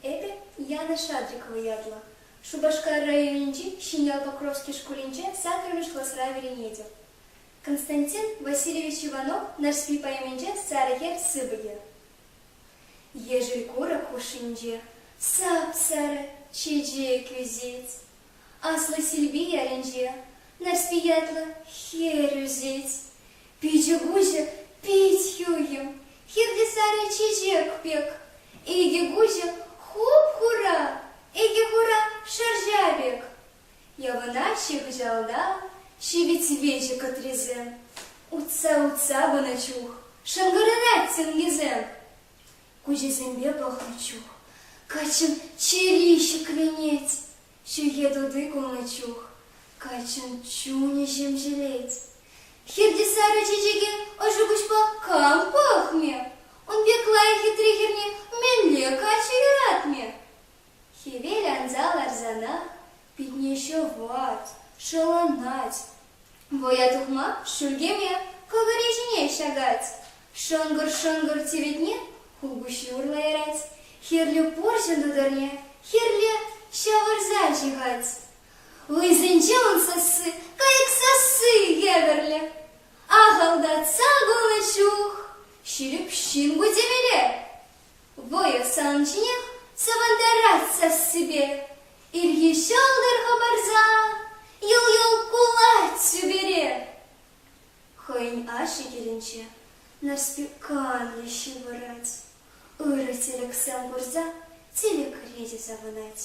Эпӗ Яна Шадрикова ятлӑ. Шупашкар районӗнчи Ҫӗньял Покровски шкулӗнче саккӑрмӗш класра вӗренетӗп. Константин Васильевич Иванов Нарспи поэминче сарӑ хӗр сыпӑкӗ. Ешӗл курӑк хушшинче сап-сарӑ чечек ӳсет. Аслӑ Силпи ялӗнче Нарспи ятлӑ хӗр ӳсет. Пичӗ-куҫӗ пит хӳхӗм, хирте сарӑ чечек пек. Икӗ куҫӗ хуп-хура, икӗ хура шӑрҫа пек. Явӑнаҫҫӗ хыҫалта ҫивӗч-виҫӗ кӑтрисем, утса-утса пынӑ чух шӑнкӑрарать сӗнкисем. Куҫӗсемпе пӑхнӑ чух каччӑн чӗри ҫӗкленет, ҫӳхе тути кулнӑ чух каччӑн чунӗ ҫемҫелет. Хирти сарӑ чечеке ӑшӑ куҫпа кам пӑхмӗ? Ун пек лайӑх хитре хӗрне мӗнле каччӑ юратмӗ? Хӗвел анса ларсанах питне ҫӑвать, шӑланать. Вӑя тухма шӳлкеме кӑкӑрӗ ҫине ҫакать. Шӑнкӑр-шӑнкӑр тиветне хулпуҫҫи урлӑ ярать. Хӗрлӗ пурҫӑн тутӑрне хӗрлӗ ҫавӑрса ҫыхать. Лӑйсенче ун сасси, кайӑк сасси евӗрлӗ. Ахӑлтатса кулнӑ чух ҫирӗп ҫын ку темелле. Вӑйӑ сан ҫинех савӑнтарать сассипе. Ирхи ҫӑлтӑр хӑпарса йӑл-йӑл кулать сӳпере. Хӑйӗн ашшӗ килӗнче Нарспи канлӗ ҫывӑрать. Ырӑ тӗлӗксем курса тилӗкре те савӑнать.